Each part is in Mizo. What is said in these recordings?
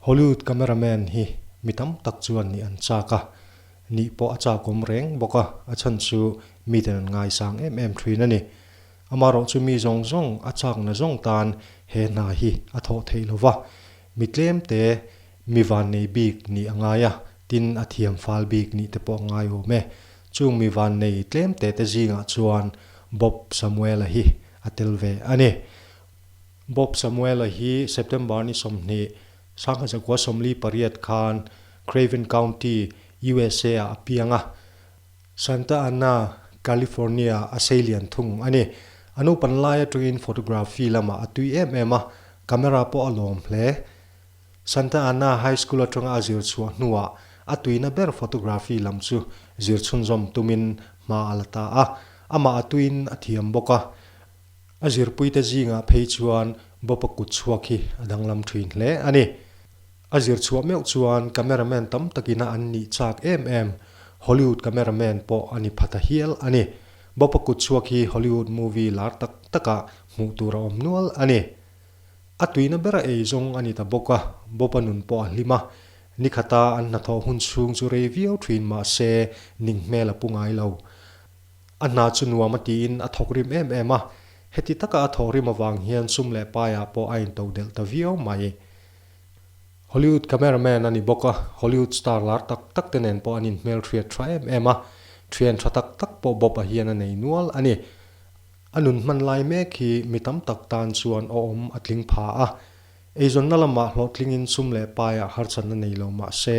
Hollywood camera man hi mi tam tak chuan ni an chak a, ni pawh a chakawm reng bawk a, a chhan chu miten an ngaisang em em thin a ni. Amaherawh chu mi zawng zawng a chakna zawng tan he hna hi a thawh theih lo va, mi tlem te mi vannei bik nih a ngai a, tin a thiam fal bik nih te pawh a ngai awm e. Chung mi van nei tlem teh te zingah chuan Bob Samuela hi a tel ve a ni. Bob Samuela hi September ni sawmhnih, sangha zakua sawmli pariat khan Craven County, usa ah a piang a. Santa Ana, California a sei lian thung a ni. A nupanlai atangin photography lamah a tui em em a, camera pawh a lawm hle. Santa Ana High School atanga a zirchhuah hnuah a tuina ber photography lam chu zirchhunzawm tumin hma a la ta a, amah a tuin a thiam bawk a. A zirpuite zingah phei chuan Bawpa kut chhuak hi a danglam thin hle a ni. A zirchhuah meuh chuan camera man tam takina an nih chak em em. Hollywood camera man pawh a ni phat a hial a ni. Bawpa kut chhuak hi Hollywood movie lar tak takah hmuh tur a awm nual a ni. A tuina ber a ei zawng a ni ta bawk a, Bopa nun pawh a hlim a. Nikhata an hnathawh hun chhung chu rei viau thin mahse ning hmel a pu ngai lo. A hna chu nuam a tiin a thawk rim em em a, heti taka a thawh rim avang hian sum leh paiah pawh a into delh ta viau mai. Hollywood camera man a ni bawk a, Hollywood star lar tak tak te nen pawh an inhmelhriat tha em em a, thian tha tak tak pawh Bopa hian a nei nual a ni. A nun hman lai mek hi mi tam tak tan chuan a awm a tling pha a. Eizawnna lamah hlawhtlingin sum leh paiah harchan a nei lo mah se,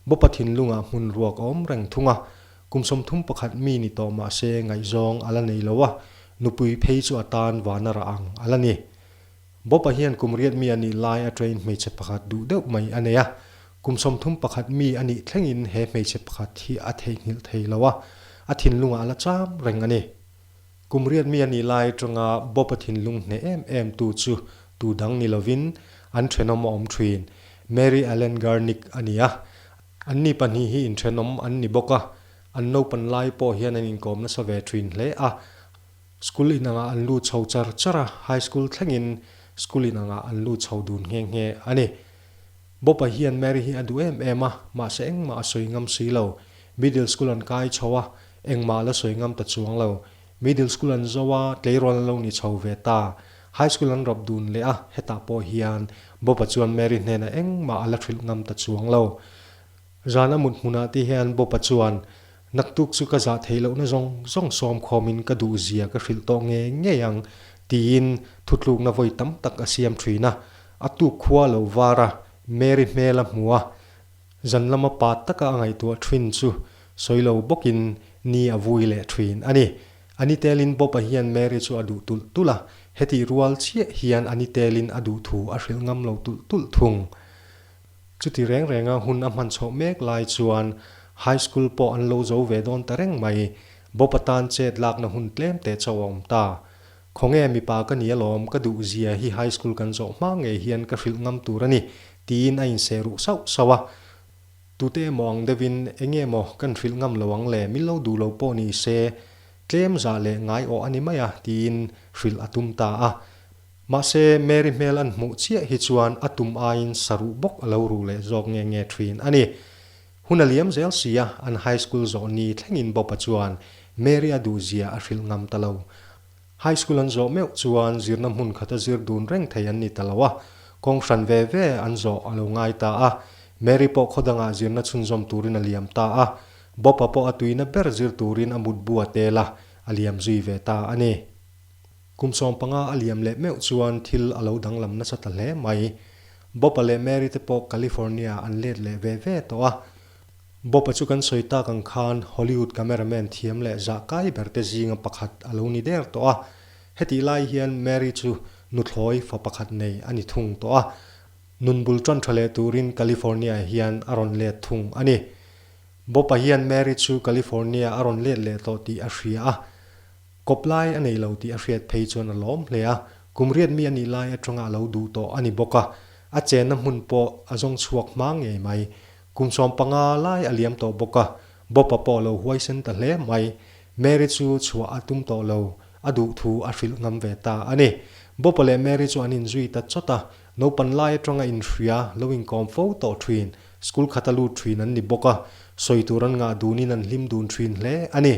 Bawpa thinlungah hmun ruak a awm reng thung a. Kum sawmthum pakhat mi ni tawh mah se ngaihzawng a la nei lo a, nupui phei chu a tan van a rah ang a la ni. Bawpa hian kum riat mi a nih lai attain hmeichhe pakhat duh deuh mai a nei a. Kum sawmthum pakhat mi a nih thlengin he hmeichhe pakhat hi a theihnghilh thei lo a, a thinlungah a la cham reng a ni. Kum riat mi a nih lai atanga Bawpa thinlung hneh em em tu chu tu dang ni lovin an thenawm a awm thin. Mary Ellen Garnick a nia. Anni pahnih hi inthenawm an ni bawk a, an naupan lai pawh hian an inkawm nasa ve thin hle a. School inangah an lu chho char char a, high school thlengin school inangah an lu chho dun nghe nghe a ni. Bawpa hian Mary hi a duh em em a, mahse engmah a sawi ngam si lo. Middle school an kai chho a. Engmah la sawi ngam ta chuang lo. Middle school an zo a, tleirawn an lo ni chho ve ta. High school an rawp dun leh a, hetah pawh hian Bob-a chuan Mary hnenah engmah a la hrilh ngam ta chuang lo. Zan a mut hmunah te hian Bob-a chuan, Naktuk chu ka zah theih lohna zawng zawng sawm khawmin ka duh zia ka hrilh tawh ngei ngei ang, tiin thutlukna vawi tam tak a siam thin a. A tuk khua lo vara Mary hmel a hmu a, Zan lama pat taka a ngaihtuah thin chu sawi lo bawkin ni a vui leh thin a ni. A ni telin Bob-a hian Mary chu a duh tulh tulh a, hetih rual chiah hian a ni telin a duh thu a hrilh ngam lo tulh tulh thung. Chuti reng renga hun a hman chhoh mek lai chuan High School pawh an lo zo ve dawn ta reng mai. Bob-a tan chet lakna hun tlem teh chauh a awm ta. Khawnge mipa ka ni alawm, ka duhzia hi high school kan zawh hma ngei hian ka hrilh ngam tur a ni, tiin a inseh ruh sauh sauh a. Tute emaw ang deuhin enge maw kan hrilh ngam lo ang le, min lo duh lo pawh ni se, tlem zah leh ngaiawh a ni mai a, tiin hrilh a tum ta a. Mahse, Mary hmel an hmuh chiah hi chuan a tum aiin saruh bawk a lo ruh leh zawk nge nge thin a ni. Hun a liam zel si a, an high school zawh ni thlengin Bopa chuan Mary a duhzia a hrilh ngam ta lo. High school an zawh meuh chuan zirna hmun khata zir dun reng thei an ni ta lo a, kawng hran ve ve an zawh a lo ngai ta a. Mary pawh khawdangah zirna chhunzawm turin a liam ta a, Bopa pawh a tuina ber zir turin a mutbu a tel a, a liam zui ve ta a ni. Kum sawm panga a liam leh meuh chuan thil a lo danglam nasa ta hle mai. Bopa leh Mary te pawh California an let leh ve ve tawh a. Bopa chu kan sawi tak ang khan Hollywood cameraman thiam leh zah kai ber te zinga pakhat a lo ni der tawh a. Hetih lai hian Mary chu nuthlawi fa pakhat nei a ni thung tawh a. Nun bul ṭan ṭha leh turin California hian a rawn let thung a ni. Bopa hian Mary chu California a rawn let leh tawh tih a hria a. Kawp lai a nei lo tih a hriat phei chuan a lawm hle a, kum riat mi a nih lai atanga a lo duh tawh a ni bawk a, a chenna hmun pawh a zawng chhuak hma ngei mai. Kum sawm panga lai a liam tawh bawk a, Bob-a pawh a lo huaisen ta hle mai. Mary chu chhuah a tum tawh lo, a duh thu a hrilh ngam ve ta a ni. Bob-a leh Mary chu an inzui ta chawt a, naupan lai atanga inhria lo inkawm fo tawh thin, school khat a lut thin an ni bawk a, sawi tur an ngah dunin an hlim dun thin hle a ni.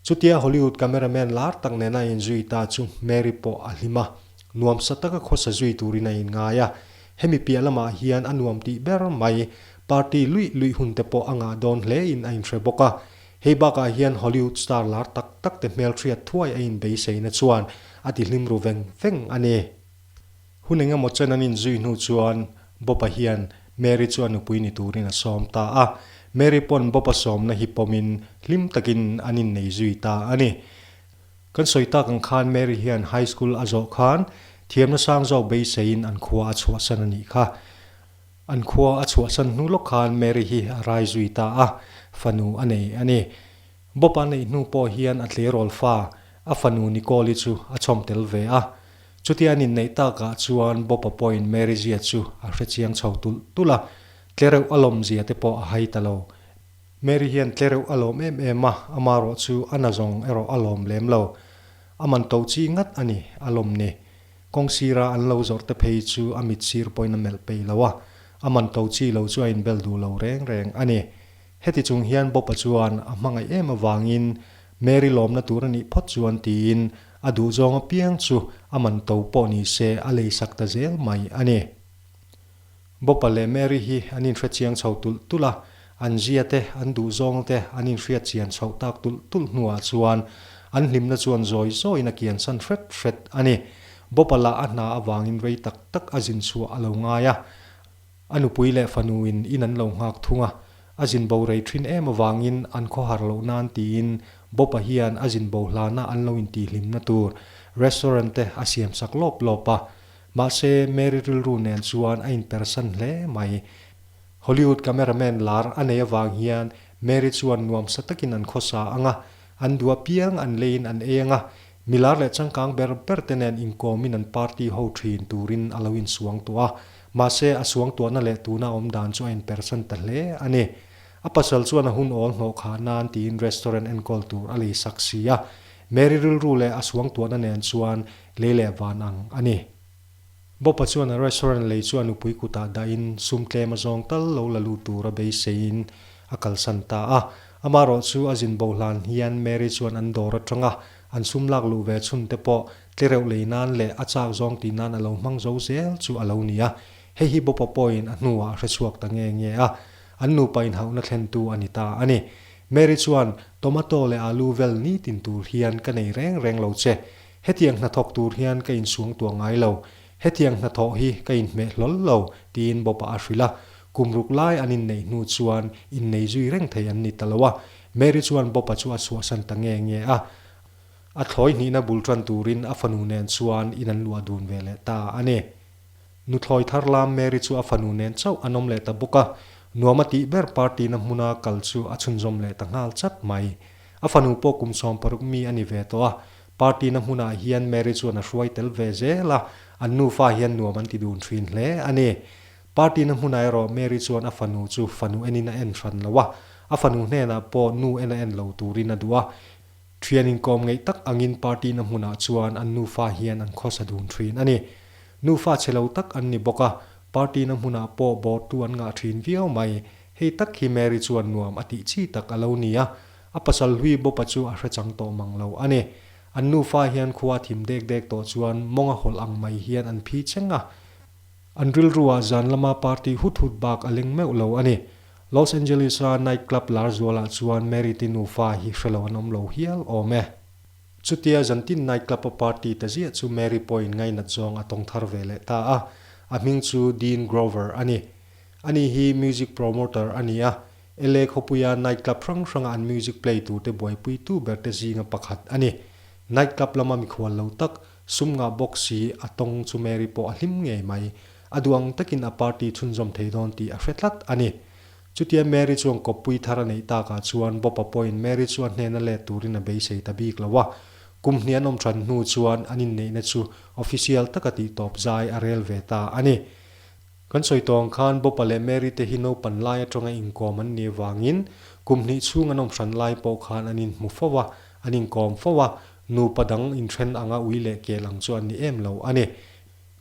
Chutia Hollywood camera man lar tak nena a inzui ta chu Mary pawh a hlim a, nuam sa taka khawsa zui turin a inngai a. Hemi piah lamah hian a nuam tih ber mai, party luih luih hun te pawh a ngah dawn hle in a inhre bawk a. Hei bakah hian Hollywood star lar tak tak te hmelhriat thuai a inbeisaina chuan a tihlim ru veng veng a ni. Hun engemaw chen an inzui hnu chuan Bopa hian Mary chu a nupui ni turin a sawm ta a. Mary pawn Bopa sawmna hi pawmin hlim takin an innei zui ta a ni. Kan sawi tak ang khan Mary hian High School a zawh khan thiamna sang zawk beiseiin an khua a chhuahsan a nih kha. An khua a chhuahsan hnu lawk khan Mary hi a rai zui ta a, fanu a nei a ni. Bopa neih hnu pawh hian a tleirawl fa, a fanu Nicole-i chu a chawm tel ve a. Chutian in neih tak ah chuan Bopa pawhin Mary-zia chu a hre chiang chho tulh tulh a. Tlereuh alawm zia te pawh a hai ta lo. Mary hian tlereuh alawm em em a, ama erawh chu a na zawng erawh a lawm lem lo. A man to chi ngat a ni, a lawm ni. Kawng sira an lo zawrh te phei chu a mit sir pawhin a melh peih lo a, a man to chi lo chu a inbel duh lo reng reng a ni. Heti chung hian Bob-a chuan a hmangaih em avangin Mary lawmna tur a nih phawt chuan tiin a duhzawng apiang chu a man to pawh nise a leisak ta zel mai a ni. Bob-a leh Mary hi an inhre chiang chho tulh tulh a, an zia te, an duhzawng te an inhriat chian chhoh tak tulh tulh hnuah chuan an hlimna chuan zawi zawiin a kiansan hret hret a ni. Bob-a lah a hna avangin rei tak tak a zin chhuah a lo ngai a. A nupui leh fanu in in an lo nghak thung a, a zin bo rei thin em avangin an khaw har loh nan tiin Bob-a hian a zin bo hlana an lo intihhlimna tur restaurant-te a siam sak lawp lawp a. Mahse, Mary rilru nen chuan a inpersan hle mai. Hollywood camera man lar a nei avang hian Mary chuan nuam sa takin an khaw sa ang a, an duah piang an leiin an ei ang a, mi lar leh changkang ber berte nen inkawmin an party ho thin turin a lo insuang tawh a, Mahse, a suangtuahna leh tuna awm dan chu a inperchan ta hle a ni. A pasal chuan a hun awl hnawh kha nan tiin restaurant enkawl tur a lei sak si a. Mary rilru leh a suangtuahna nen chuan lei leh van ang a ni. Bopa chuan a restaurant lei chu a nupui kutah dahin sum tlem a zawng tal lo la lut tur a beiseiin a kalsan ta a. Amaherawhchu a zin bohlan hian Mary chuan an dawr atanga an sum lak luh ve chhunte pawh Tlereuh lei nan leh a chak zawng ti nan a lo hmang zo zel chu a lo ni a, hei hi Bawpa pawhin a hnuah a hrechhuak ta nge nge a, an nupa inhauhna thlentu a ni ta a ni. Mary chuan, Tomato leh alu vel ni tin tur hian ka nei reng reng lo che. Hetiang hna thawk tur hian ka insuang tuah ngai lo. Hetiang hna thawh hi ka inhmeh hlawl lo, tiin Bawpa a hrilh a. Kum ruk lai an inneih hnu chuan innei zui reng thei an ni ta lo a, Mary chuan Bawpa chu a chhuahsan ta nge nge a. A thlawi hnihna bul ṭan turin a fanu nen chuan in an luah dun ve leh ta a ni. Nuthlawi thar lam Mary chu a fanu nen chauh an awm leh ta bawk a, nuam a tih ber party-na hmuna kal chu a chhunzawm leh ta nghal chat mai. A fanu pawh kum sawm paruk mi a ni ve tawh a, party-na hmunah hian Mary chuan a hruai tel ve zel a, an nufa hian nuam an ti dun ṭhin hle a ni. Party-na hmunah erawh Mary chuan a fanu chu fanu enin a en hran lo a, a fanu hnenah pawh nu en a en lo turin a duh a, Thian inkawm ngeih tak angin party na hmunah chuan an nufa hian an khawsa dun thin a ni. Nufa che lo tak an ni bawk a, party na hmunah pawh bawr tu an ngah thin viau mai. Hei tak hi Mary chuan nuam a tih chi tak a lo ni a, a pasal hlui bawpa chu a hre chang tawh mang lo a ni. An nufa hian khua a thim dek dek tawh chuan mawng a hawlh ang mai hian an phi cheng a. An rilruah zan lama party hut hut bak a leng meuh lo a ni. Los Angeles-a night club lar zualah chuan Mary-te nufa hi hrelo an awm lo hial awm e. Chutia zantin night club-a party ta ziah chu Mary pawhin ngainat zawng a tawng thar ve leh ta a. A hming chu Dean Grover a ni. Ani hi music promoter a ni a, LA khawpuia night club hrang hranga an music play turte buaipuitu berte zinga pakhat a ni. Night club lama mikhual lo tak, Sum nghah bawk si, a tawng chu Mary pawh a hlim ngei mai. A duang takin a party chhunzawm thei dawn tih a hre tlat a ni. Chutia Mary chuan kawppui thar a neih takah chuan Bawpa pawhin Mary chu a hnena let turin a beisei ta bik lo a. Kum hnih an awm than hnu chuan an inneihna chu official taka tih tawp zai a rel ve ta a ni. Kan sawi tawng khan Bawpa leh Mary te hi naupan lai atanga inkawm an nih vangin kum hnih chhung an awm hran lai pawh khan an inhmu fo a, an inkawm fo a. Nupa dang inthen anga ui leh kel ang chu an ni em lo a ni.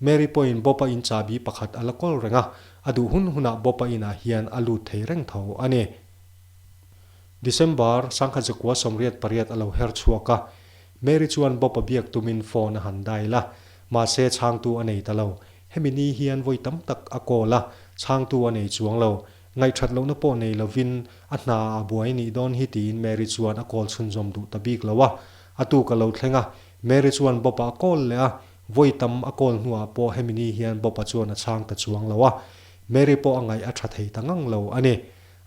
Mary pawhin Bawpa in chahbi pakhat a la kawl reng a, a duh hun hunah Bawpa inah hian a lut thei reng tho a ni. December, Sangha Zakua sawmriat pariat a lo her chhuak a, Mary chuan Bawpa biak tumin phone a han dial a, mahse chhangtu a nei ta lo. Hemi ni hian vawi tam tak a call a, chhangtu a nei chuang lo. Ngaihthat lohna pawh nei lovin a hna ah a buai anih dawn hi tiin Mary chuan a kawl chhunzawm duh ta bik lo a, a tu ka lo thleng a, Mary chuan Bob-a a kawl leh a, vawi tam a kawl hnuah pawh hemi ni hian Bob-a chuan a chhang ta chuang lo a, Mary pawh a ngaih a tha thei ta ngang lo a ni.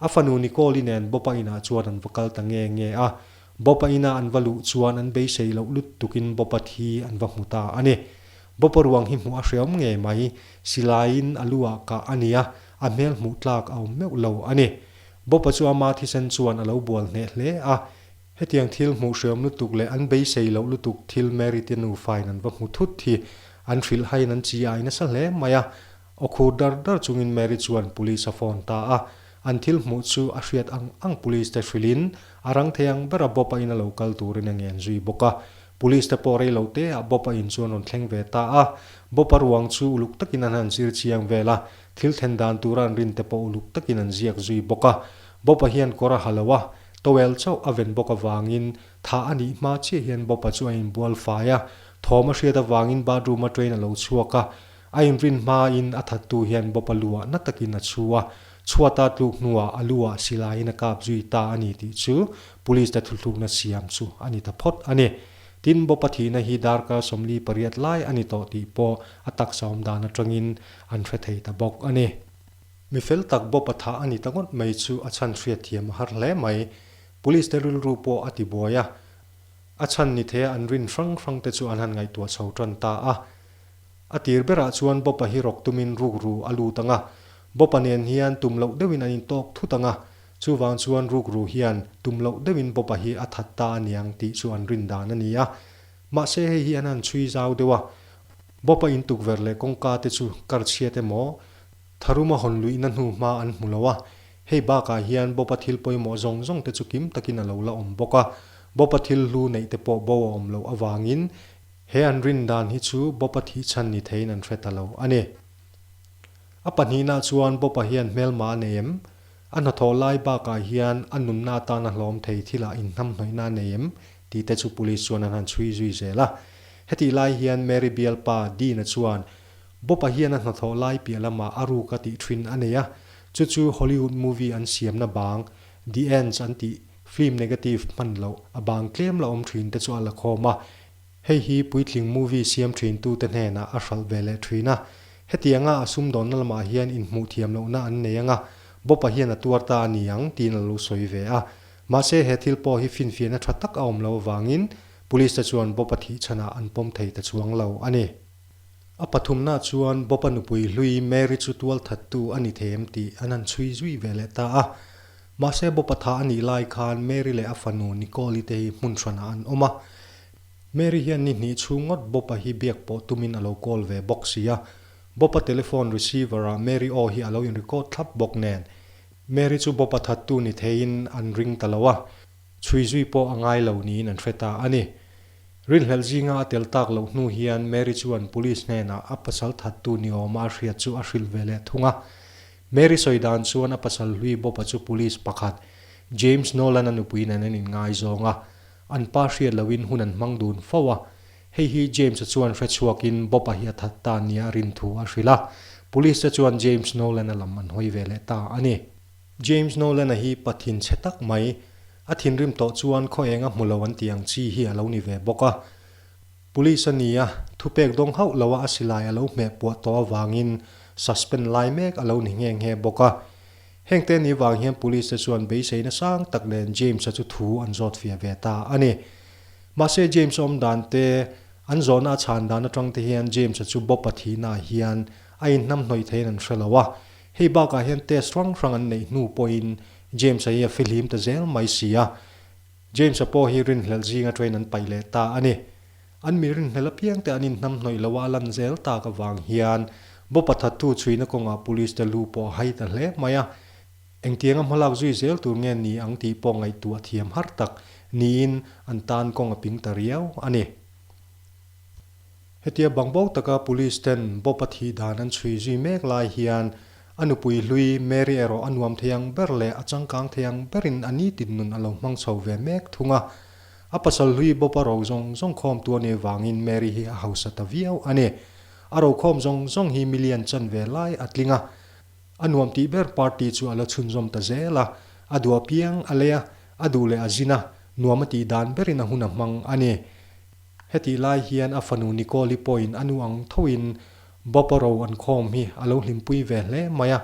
A fanu Nicole-i nen Bob-a inah chuan an va kal ta nge nge a, Bob-a inah an va luh chuan an beisei loh lut tukin Bob-a thi an va hmu ta a ni. Bob-a ruang hi hmuh a hreawm nge mai, silaiin a lu ah kah a nia, a hmel hmuh tlak a awm meuh lo a ni. Bawpa chu ama thisen chuan a lo bual hneh hle a, hetiang thil hmuh hreawm lutuk leh an beisei loh lutuk thil Mary te nufain an va hmu thut hi an hrilh haiin an chi ai nasa hle mai a. Aw khur dar dar chungin Mary chuan Police a phone ta a, an thil hmuh chu a hriat ang ang Police te hrilhin a rang thei ang ber a, Bawpa in a lo kal turin a ngen zui bawk a, Police te pawh rei lo te ah Bob a in chu an rawn thleng ve ta a, Bob a ruang chu uluk takin an han zir chiang vel a, thil then dan tura an rin te pawh uluk takin an ziak zui bawk a. Bob a hian kawr a ha lo a, towel chauh a ven bawk avangin tha a nih hma chiah hian Bob a chu a in bual fai a, thawm a hriat avangin bathroom a train a lo chhuak a, A inrin hmain a thattu hian Bawpa luahna takin a chhu a, chhuata tluk hnuah a lu ah silaiin a kap zui ta a ni tih chu Police-te thluhlukna siam chu a ni ta phawt a ni. Tin, Bawpa thihna hi darkar sawmli pariat lai a ni tawh tih pawh a taksa awm dan atangin an hre thei ta bawk a ni. Mi fel tak Bawpa thah a ni ta ngawt mai chu a chhan hriat thiam a har hle mai. Police-te rilru pawh a ti buai a, a chhan ni thei a an rin hrang hrangte chu an han ngaihtuah chho tan ta a. A tir berah chuan Bawpa hi rawk tumin rukru a lut ang a. Bawpa nen hian tum loh deuhin an intawk thut ang a. Chuvang chuan rukru hian tum loh deuhin Bawpa hi a that ta a niang tih chu an rin dan a ni a. Mahse hei hi an han chhui zau deuh a. Bawpa in tukverh leh kawngka te chu kar chhiat emaw, tharuma hawn luihna hnu hma an hmu lo a. Hei bakah hian Bawpa thil pawimawh zawng zawng te chu kim takin a lo la awm bawk a. Bawpa thil hlu neih te pawh bo a awm loh avangin, He an rin dan hi chu Bawpa thihchhan ni theiin an hre ta lo a ni. A pahnihna chuan Bawpa hian hmelma a nei em? A hnathawh lai bakah hian a nunna atan a hlawm thei thilah inhnamhnawihna a nei em? tih te chu Police chuan an han chhui zui zel a. Hetih lai hian Mary bial pa Dean-a chuan Bawpa hian a hnathawh lai piah lama a ruk a tih thin a nei a, chu chu Hollywood movie an siamna bang The Ends an tih film negative hman loh a bang tlem la awm thin te chu a la khawm a. Hei hi Puitling Movie siam thintu te hnenah a hralh ve leh thin a. Hetianga a sumdawnna lamah hian inhmuh thiam lohna an nei anga Bob-a hian a tuar ta a ni ang tiin a lo sawi ve a. Mahse he thil pawh hi finfiahna tha tak a awm lo avangin Police-te chuan Bob-a thih chhanah an pawm thei ta chuang lo a ni. A pathumna chuan Bopa nupui hlui Mary chu tual thattu a ni thêm tih an han chhui zui ve leh ta a. Mahse, Bopa tha a nih lai khân Mary leh a fanu Nicole-i te hi hmun hranah an awm a. Mary hian ni hnih chhûng ngawt Bopa hi biak pawh tumin a lo call ve bawk si a. Bopa telephone receiver-ah Mary aw hi a lo inrecord thlap bawk nen, Mary chu Bopa thattu ni theiin an ring ta lo a, chhui zui pawh a ngai lo niin an hre ta a ni. Rilhmel zinga a tel tak loh hnu hian Mary chuan Police hnenah a pasal thattu ni awma a hriat chu a hrilh ve leh thung a. Mary sawi dan chuan a pasal hlui bawpa chu Police pakhat, James Nolan a nupui nen an inngaizawng a, an pa hriat loin hun an hmang dun fo a. Hei hi James-a chuan hrechhuakin bawpa hi a that ta nia rin thu a hrilh a, Police-te chuan James Nolan-a lam an hawi ve leh ta a ni. James Nolan-a hi pathin chhe tak mai, a thinrim tawh chuan khaweng a hmu lo an tih ang chi hi a lo ni ve bawk a. Police a nia thupek dawng hauh loha a silai a lo hmeh puah tawh avangin suspend lai mek a lo ni nghe nghe bawk a. Hengte ni vang hian Police te chuan beisei nasang tak nen James-a chu thu an zawt fia ve ta a ni. Mahse James awm dan te, an zawhna a chhan dan atang te hian James-a chu Bob-a thihnaah hian a inhnam hnawih theiin an hre lo a. Hei bakah hian test hrang hrang an neih hnu pawhin James-a hi a fihlim ta zel mai si a. James-a pawh hi rinhlelh zinga train an paih leh ta a ni. An mi rinhlelh apiangte an inhnam hnawih loh a, a lan zel tak avang hian Bopa thattu chhuina kawngah Police-te lu pawh a hai ta hle mai a. Engtiang a hmalak zui zel tur nge ni ang tih pawh ngaihtuah thiam har tak niin an tan kawng a ping ta riau a ni. Hetia bangbo taka Police ten Bopa thih dan an chhui zui mek lai hian a nupui hlui Mary erawh a nuam thei ang ber leh a changkang thei ang berin a ni tinnun a lo hmang chho ve mek thung a. A pasal hlui Bopa ro zawng zawng khawm tu a nih vangin Mary hi a hausa ta viau a ni. A ro khawm zawng zawng hi mi lian chan ve lai a tling a. A nuam tih ber party chu a la chhunzawm ta zel a, a duh apiang a lei a, a duh leh a zin a, nuam a tih dan berin a hun a hmang a ni. Hetih lai hian a fanu Nicole-i pawhin a nu ang thoin bawpa ro an khawm hi a lo hlimpui ve hle mai a.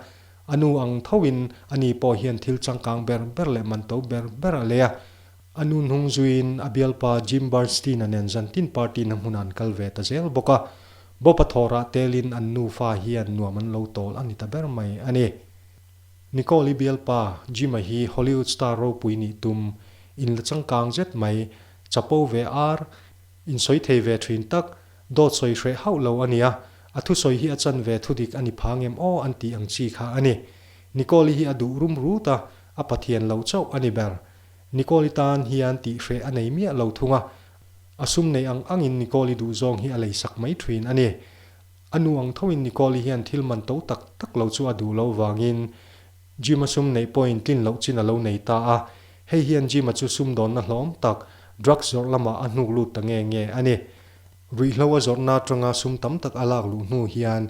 A nu ang thoin a ni pawh hian thil changkang ber ber leh man to ber ber a lei a. A nu hnung zuiin a bialpa Jim Bernstein-a nen zantin party na hmuna an kal ve ta zel bawk a. Bawpa thawrah telin an nufa hian nuam an lo tawl a ni ta ber mai a ni. Nicole-i bialpa Jim-a hi Hollywood star ropui nih tum in la changkang zet mai. Chapo ve ar, insawi thei ve thin tak, dawtsawi hreh hauh lo a nia, a thusawi hi a chan ve thu dik a ni phang em aw an tih ang chi kha a ni. Nicole-i hi a duh rum rut a, a Pathian lo chauh a ni ber. Nicole-i tan hian tih hreh a nei miah lo thung a, a sum nei ang angin Nicole-i duh zawng hi a lei sak mai thin a ni. A nu ang thoin Nicole-i hian thil man to tak tak lo chu a duh lo vangin, Gym-a sum neih pawhin tlin loh chin a lo nei ta a, hei hian gym-a chu sum dawnna hlawm tak, drugs zawrh lamah a hnuk lut ta nge nge a ni. Ruihhlo a zawrhna atanga sum tam tak a lak luh hnu hian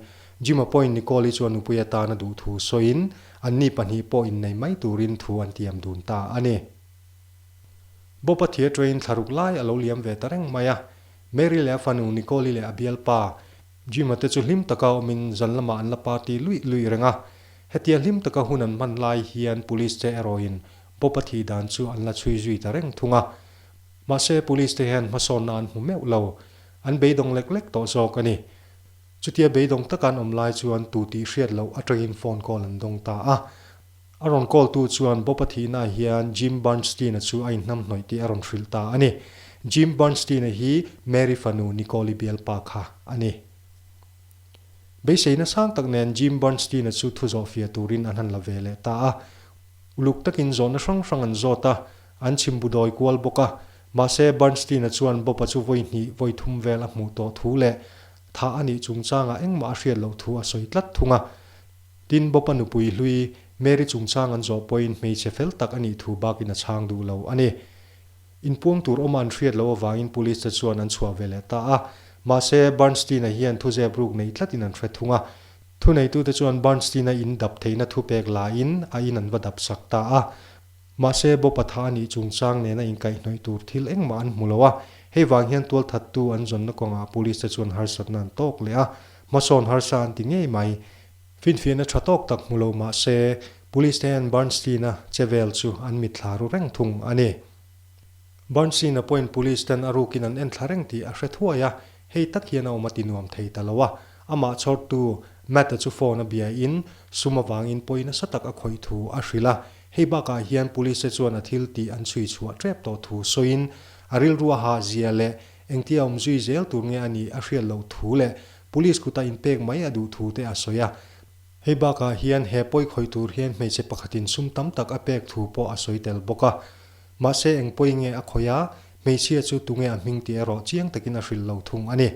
gym-a pawhin Nicole-i chu a nupui atana duh thu sawiin anni pahnih pawh innei mai turin thu an tiam dun ta a ni. Bopa thir ṭaiin thla ruk lai a lo liam ve ta reng mai a, Mary leh a fanu Nicole-i leh a bialpa, Jima te chu hlim taka awmin zal lamah an la party luih luih reng a. Hetia hlim taka hun an hman lai hian Police te erawhin Bopa thi dan chu an la chhui zui ta reng thung a. Mahse Police te hian hmasawnna an hmu meuh lo. An beidawng lek lek tawh zawk a ni. Chutia beidawng taka an awm lai chuan tu tih hriat loh atangin phone call an dawng ta a. A rawn call-tu chuan Bopa Thihnaah hian Jim Bernstein-a chu a inhnam hnawih tih a rawn hrilh ta a ni. Jim Bernstein-a hi Mary fanu Nicole-i bialpa kha a ni. Beisei nasang tak nen Jim Bernstein-a chu thu zawh fia turin an han la ve leh ta a. Uluk takin zawhna hrang hrang an zawt a, an chim bu dawi kual bawk a. Mahse, Bernstein-a chuan Bopa chu vawi hnih, vawi thum vel a hmuh tawh thu leh thah a nih chungchangah engmah a hriat loh thu a sawi tlat thung a. Tin, Bawpa nupui hlui Mary chungchang an zawh pawhin hmeichhe fel tak a nih thu bakin a chhang duh lo a ni. Inpuang tur awma an hriat lo avangin Police te chuan an chhuah ve leh ta a. Mahse, Bernstein-a hian thu zep ruk neih tlatin an hre thung a. Thuneitute chuan Bernstein-a in dap theihna thupek lain a in an va dap sak ta a. Mahse, Bawpa tha a nih chungchang nena inkaihnawih tur thil engmah an hmu lo a. Hei vang hian tual thattu an zawnna kawngah Police te chuan harsatna an tawk leh a. Hmasawn harsa an ti ngei mai. Finfiahna tha tawk tak hmu lo mahse, Police te hian Bernstein-a che vel chu an mit thla ru reng thung a ni. Bernstein-a pawiin Police ten a rukin an en thla reng tih a hre thuai a. Hei tak hian a awm a ti nuam thei ta lo a. Amah chhawrtu Matt-a chu phone a biain sum avangin pawi nasa tak a khawih thu a hrilh a. Hei bakah hian Police-te chuan a thil tih an chhui chhuah tep tawh thu sawiin, a rilrua hah zia leh engtia a awm zui zel tur nge a nih a hriat loh thu leh Police kuta inpek mai a duh thu te a sawi a. Hei bakah hian he pawi khawih tur hian hmeichhe pakhatin sum tam tak a pek thu pawh a sawi tel bawk a. Mahse engpawhin nge a khawih a, hmeichhia chu tunge a hming tih erawh chiang takin a hrilh lo thung a ni.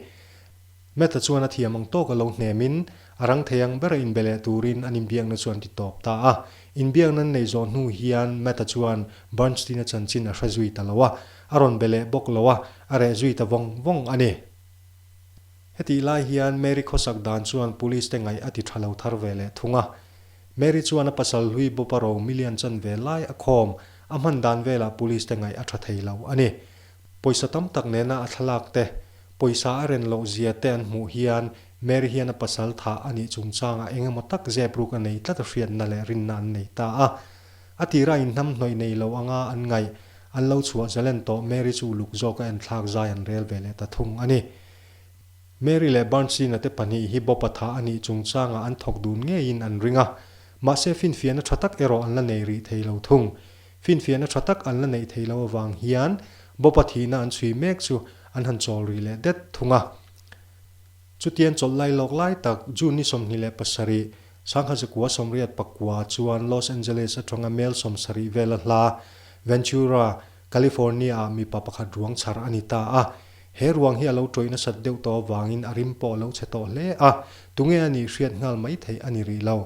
Matt-a chuan a thiam ang tawk a lo hnemin, a rang thei ang ber a inbe leh turin an inbiakna chu an ti tawp ta a. Inbiakna an nei zawh hnu hian Matt-a chuan Bernstein-a chanchin a hre zui ta lo a, a rawn be leh bawk lo a, a reh zui ta vawng vawng a ni. Hetih lai hian Mary khawsak dan chuan Police-te ngaih a ti tha lo thar ve leh thung a. Mary chuan a pasal hlui bawpa ro million chanvel lai a khawm. A hman dan velah police te ngaih a tha thei lo a ni. Pawisa tam tak nena a thlalak te, pawisa a ren loh zia te an hmuh hian Mary hian a pasal tha a nih chungchangah eng emaw tak zep ruk a nei tlat a hriatna leh rinna an nei ta a. A tira inhnam hnawih nei lo anga an ngaih an lo chhuah zelen tawh Mary chu uluk zawk a enthlak zai an rel ve leh ta thung a ni. Mary leh Bernstein-a te pahnih hi Bob-a tha a nih chung changah an thawk dun ngeiin an ring a. Mahse, finfiahna tha tak erawh an la nei rih thei lo thung. Finfiahna tha tak an la neih thei lo avang hian Bob-a thihna an chhui mek chu an han chawl rih leh det thung a. Chutian chawlh lai lawk lai tak, June ni sawmhnih leh pasarih, Sangha zakua sawmriat pakua chuan Los Angeles atanga mel sawmsarih vel a hla, Ventura, California ah mipa pakhat ruang chhar a ni ta a, he ruang hi a lo ṭawih nasat deuh tawh avangin a rim pawh a lo chhe tawh hle a, tunge a nih hriat nghal mai theih a ni rih lo.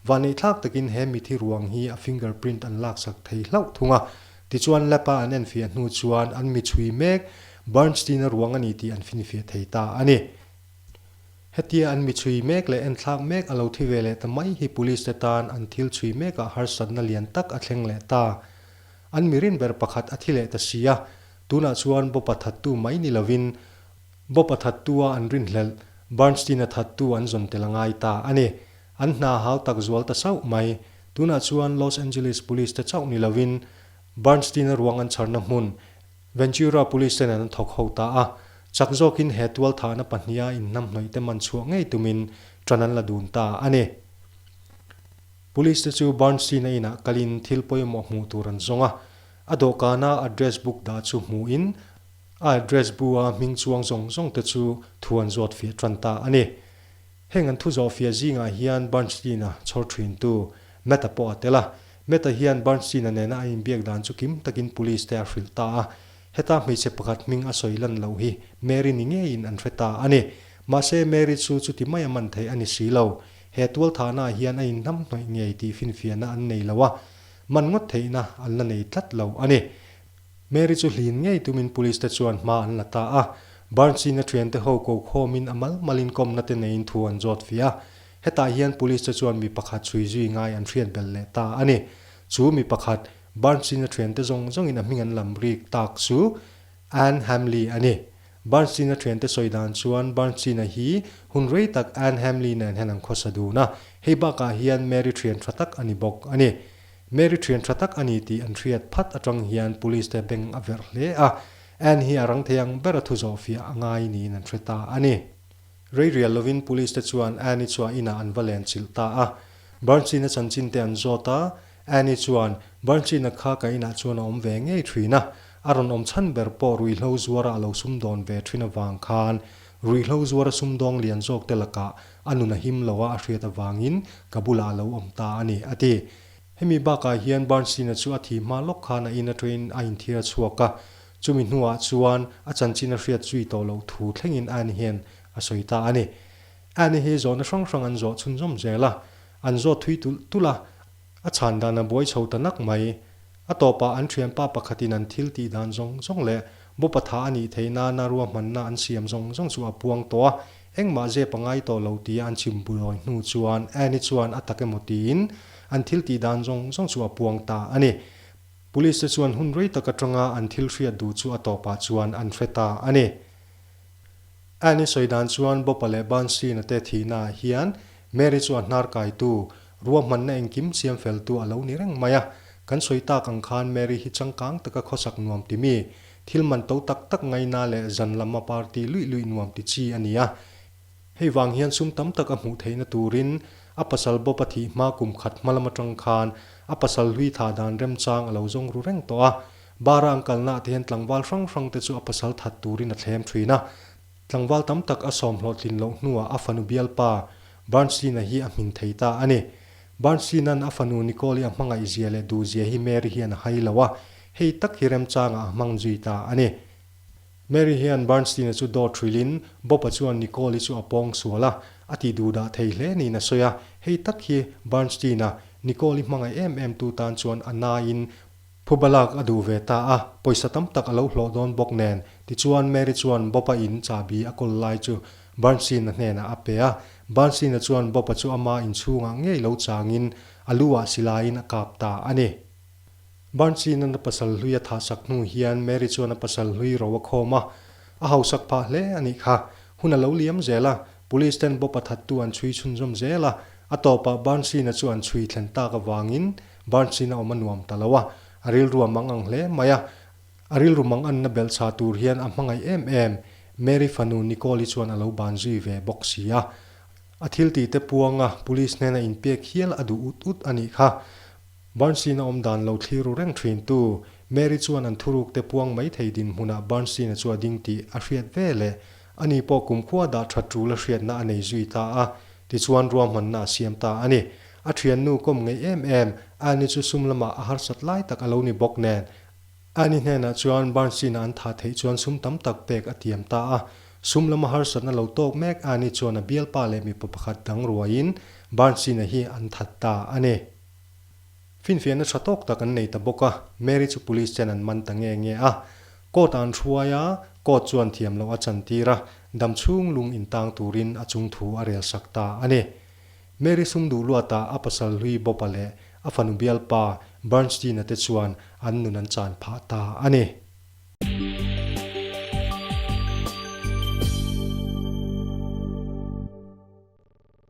Vaneihthlak takin he mithi ruang hi a finger print an laksak thei hlauh thung a, tichuan lab a an enfiah hnu chuan an mi chhui mek Bernstein-a ruang a ni tih an finfiah thei ta a ni. Hetia an mi chhui mek leh enthlak mek a lo thi ve leh ta mai hi Police-te tan an thil chhui mekah harsatna lian tak a thleng leh ta. An mirin ber pakhat a thi leh ta si a, tunah chuan Bawpa thattu mai ni lovin Bawpa thattua an rinhlelh, Bernstein-a thattu an zawn tel a ngai ta a ni. An hna hau tak zual ta sauh mai. Tunah chuan Los Angeles Police-te chauh ni lovin Bernstein-a ruang an chharna hmun Ventura Police-te nen an thawk ho ta a. Chak zawkin he tualthahna pahniha inhnamhnawihte man chhuah ngei tumin ṭan an la dun ta a ni. Police te chu Bernstein-a inah kalin thil pawimawh hmuh tur an zawng a, a dawhkana address book dah chu hmuhin a address bu-a hming chuang zawng zawng te chu thu an zawt fiah tan ta a ni. Heng an thu zawh fiah zingah hian Bernstein-a chhawr thintu Matt-a pawh a tel a. Matt-a hian Bernstein-a nena a inbiak dan chu kim takin Police te a hrilh ta a, heta hmeichhe pakhat hming a sawi lan loh hi Mary ni ngeiin an hre ta a ni. Mahse Mary chu chuti mai a man thei a ni si lo. He tualthahnaah hian a inhnam hnawih ngei tih finfiahna an nei lo a, man ngawt theihna an la nei tlat lo a ni. Mary chu hlin ngei tumin Police te chuan hma an la ta a, Barnsi'n a thiante ho kohkawmin a malmalin kawmna te neiin thu an zawt fih a. Hetah hian Police te chuan mi pakhat chhui zui ngai an hriat belh leh ta a ni. Chu mi pakhat, Barnsi'n a thiante zawng zawngin a hming an lam rik tak chu Anne Hamley a ni. Barnstein-a thiante sawi dan chuan Barnstein-a hi hun rei tak Anne Hamley nen hian an khawsa dun a, hei bakah hian Mary thian tha tak a ni bawk a ni. Mary thian tha tak a ni tih an hriat phat atang hian Police-te beng a verh hle a, Anne hi a rang thei ang ber a thu zawh fiah a ngai niin an hre ta a ni. Reirial lovin Police-te chuan Anne-i chhuah inah an va len chilh ta a, Barnstein-a chanchinte an zawt a, Annie chuan, Branchina kha ka inah chuan a awm ve ngei ṭhin a, a rawn awm chhan ber pawh ruihhlo zuara a lo sum dawn ve ṭhin avang khan, ruihhlo zuara sum dawng lian zawkte lakah a nun a him lo a, a hriat avangin ka bulah a lo awm ta a ni, a ti. Hemi bakah hian Branchina chu a thi hma lawk khan a ina ṭawiin a inthiar chhuak a, chumi hnuah chuan a chanchin a hriat zui tawh loh thu thlengin Annie hian a sawi ta a ni. Annie hi zawhna hrang hrang an zawh chhunzawm zel a. An zawt thui tulh tulh a, a chhan dan a buai chho ta nak mai. A tawpah an thianpa pakhatin an thil tih dan zawng zawng leh Bawpa tha a nih theih nana ruahmanna an siam zawng zawng chu a puang tawh a, engmah zep a ngai tawh lo tia an chim burawi hnu chuan Anne chuan a tak emaw tiin an thil tih dan zawng zawng chu a puang ta a ni. Police te chuan hun rei tak atanga an thil hriat duh chu a tawpah chuan an hre ta a ni. Anne sawi dan chuan Bawpa leh Bansina te thihnaah hian Mary chu a hnar kaitu, rua hmanna engkim siam feltu a lo ni reng mai a. Kan sawi tak ang khan Mary hi changkang taka khawsak nuam ti mi, thil man to tak tak ngaina leh zan lama party luih luih nuam ti chi a ni a. Hei vang hian sum tam tak a hmuh theihna turin a pasal Bopa thih hma kum khat hma lam atang khan a pasal hlui tha dan remchang a lo zawng ru reng tawh a. Bar a an kalna ah te hian tlangval hrang hrang te chu a pasal that turin a thlem thin a. Tlangval tam tak a sawmhlawh tlin loh hnuah a fanu bialpa Barnslina hi a hmin thei ta a ni. Barnslinan a fanu Nicole-i a hmangaih zia leh duh zia hi Mary hian a hai lo a, hei tak hi remchangah a hmang zui ta a ni. Mary hian Barnslina chu dawt hrilhin, Bob-a chuan Nicole-i chu a pawng sual a, a ti duh dah thei hle niin a sawi a, hei tak hi Barnslina Nicole-i hmangaih em em tu tan chuan a naiin, Phu balak a duh ve ta a, pawisa tam tak a lo hlawh dawn bawk nen. Tichuan, Mary chuan Bob-a in chahbi a kawl lai chu Bernstein-a hnenah a pe a. Bernstein-a chuan Bob-a chu ama inchhungah ngei lo changin a luah silaiin a kap ta a ni. Bernstein-a na pasal hlui a thahsak hnu hian Mary chuan a pasal hlui ro a khawm a. A hausak phah hle a nih kha. Hun a lo liam zel a, Police ten Bob-a thattu an chhui chhunzawm zel a. A tawpah Bernstein-a chu an chhui thlen tak avangin Barn sin a awm a nuam ta lo a, a rilru a mang ang hle mai a. A rilru mang anna belh chha tur hian a hmangaih em em. Mary fanu Nicole-i chuan a lo ban zui ve bawk si a. A thil ti te puanga Police hnena in pek hial a duh ut ut a nih kha. Barn sin a awm dan lo thlir ru reng thintu Mary chuan an thuruk te puang mai thei dinhmunah Barn sin a chu a ding tih a hriat ve leh. Ani pawh kumkhua dah that tul a hriatna a nei zui ta a, tichuan ruahmanna a siam ta a ni. A thiannu kawm ngei em em, Annie chu sum lamah a harsat lai tak a lo ni bawk nen, Annie hnenah chuan Barnsley-na an thah theih chuan sum tam tak pek a tiam ta a. Sum lama harsatna lo tawk mek Annie chuan a bialpa leh mipa pakhat dang ruaiin Barnsley-na hi an that ta a ni. Finfiahna tha tawk tak an nei ta bawk a, Mary chu police ten an man ta nge nge a. Court an hruai a, Court chuan thiam loh a chan tir a, damchhung lung intang turin a chung thu a rel sak ta a ni. Mary sum duh luata a pasal hlui bawpa leh a fanu bialpa Bernstein-a te chuan an nun an chan phah ta a ni.